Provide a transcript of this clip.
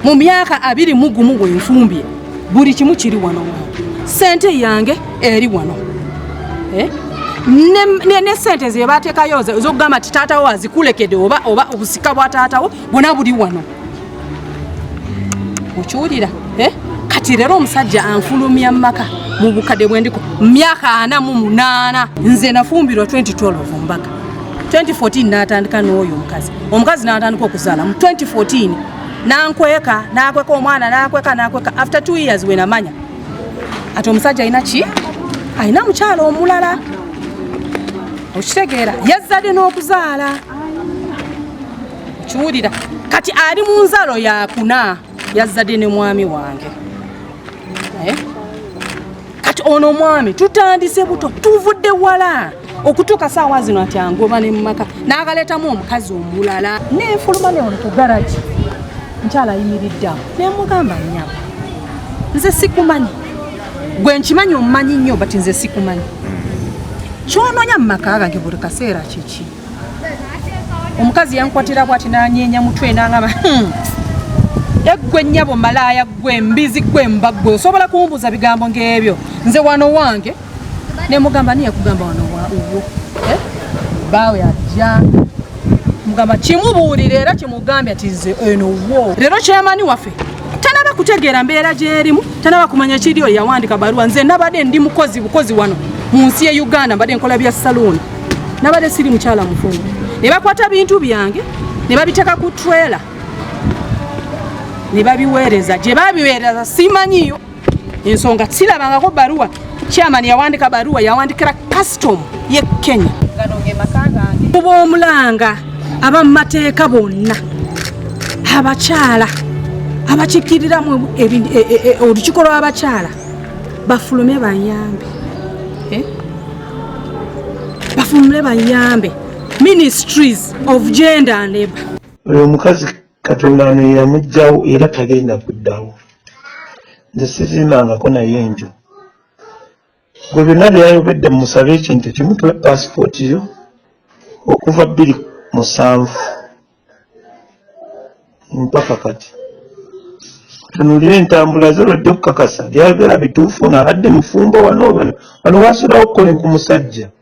mu myaka abiri mu gumu we nfumbye buli kimu kiri wano wange sente yange eri wano eh? ne sente ze bateekayo zokugamba ti taatawo azikulekedde oba oba obusika bwa taatawo bwona buli wano okiwulira eh? kati leero omusajja anfulumya mumaka mu bukadde bwendiko myaka ana mu munaana nze nafumbirwa 2012 mbaga 2014 natandika n'oyo omukazi omukazi natandika okuzaala mu 2014 nankweka nakweka omwana nakweka nakweka after two years wenamanya ati omusajja alina ki alina mukyala omulala okitegeera yazzadde n'okuzaala kiwulira kati ali mu nzalo yakuna yazzadde ne mwami wange eh? kati ono omwami tutandise buto tuvudde wala okutuuka saawa zino ati angoba ne mumaka n'akaleetamu omukazi omulala nenfuluma ne oli ku garagi nkyala ayimiriddeawo nemugamba nyabo nze sikumanyi gwe nkimanyi omumanyi nnyo but nze sikumanyi kyononya mu maka gange buli kaseera kiki omukazi yankwatira bwati nanyeenya mutwe nangaba hmm. eggwe nnyabo malaaya ggwe mbizi ggwe mba ggwe osobola kumbuuza bigambo ng'ebyo nze wano wange ne mugamba niye kugamba wano wauwo eh? baawe ajja mugamba kimubuulire era kimugambye ati nze eno wo leero kyemani waffe tanaba kutegeera mbeera gyerimu tanaba kumanya kiri oyo yawandika baluwa nze nabadde ndi mukozi bukozi wano mu nsi ye uganda mbadde nkola bya saluuni nabadde siri mukyala mufumbo ne bakwata bintu byange ne babiteeka ku trailer ne babiweereza gye babiweereza simanyiyo ensonga sirabangako baruwa chairman yawandika baruwa yawandikira custom ye kenya kuba omulanga aba mu mateeka bonna abakyala abakikiriramu e, e, e, olukiko lw'abakyala bafulume bayambi eh? bafumule bayambe ministries of gender and labor oyo omukazi katonda ano yeyamugjawo era tagenda kuddawo nze sizimbangako naye enjo gwe byonna byeyayogedde mumusaba ekintu kimu tuwe pasipooti yo okuva bbiri musanvu mpaka kati tunulira entambula ze lwajja okukakasa byayogera bituufu ng'abadde mufumbo wano wano wasulawo okukola ku musajja